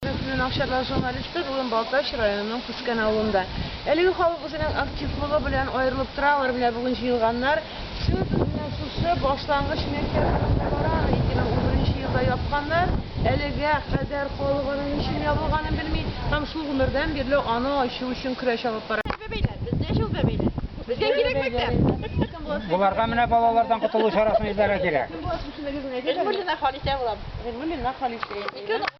Безнең Акчарлак журналисты бүген Балтач районының Күскән авылында. Әлеге халык үзенең активлыгы белән аерылып тора, алар менә бүген җыелганнар. Сүз үзенә шушы башлангыч мәктәп турында бара, аны 2011 елда япканнар. Әлегә кадәр халык аның ничем ябылганын белми һәм шул гомердән бирле аны ачу өчен көрәш алып бара. Безгә ул бәбәйләр, безгә ул бәбәйләр. Безгә кирәк мәктәп. Боларга менә балалардан котылу чарасын эзләргә кирәк. Гыйльмуллина Халисә булам. Гыйльмуллина Халисә.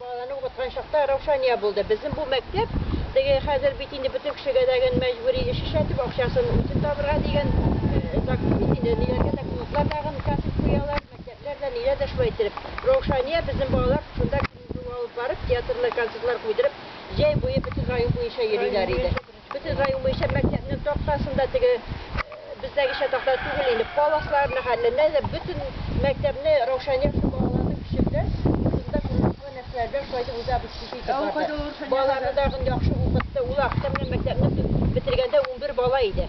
Балаларны укыткан чакта Раушания булды. Безнең бу мәктәп теге хәзер бит инде бөтен кешегә дә гел мәҗбүри эш эшләтеп, акчасын үзе табырга дигән закон бит инде. Ниләргә дә клублар тагын катыш куялар, мәктәпләр дә, ниләр дә шулай иттереп. Раушания безнең балалар шунда көн буе алып барып, театрны, концертлар куйдырып, җәй буе бөтен район буенча йөриләр иде. Бөтен район буенча мәктәпнең тактасын да теге бездәгечә такта түгел инде, паласлар мәхәлләнә дә, бөтен мәктәпне Раушания өчен балаларны пешерде. Шунда курочкалы нәрсәләрдән шулайтып үзебез шушы итеп барды. Балаларны тагын яхшы укытты. Ул акча белән мәктәпне бетергәндә унбер бала иде.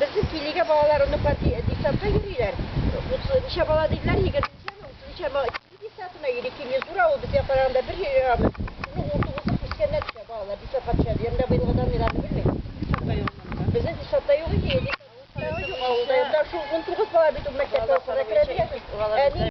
Безнең килигә балалар, оныклар десантка йөриләр. Утыз ничә бала диделәр, егерме ничәме, утыз ничә ма, кили десантына йөри. Кили зур авыл, безгә караганда бер җирабыз. Шуның уртыгызы крестьяннар төшә, балалар десантка төшә. Янда быелгы данныйларны белмим. Десантта юк монда. Безнең десантта юк иде, десантта юк авылда. Янда шул унтугыз бала бит ул мәктәпкә укырга керә дигәнсез. Әни.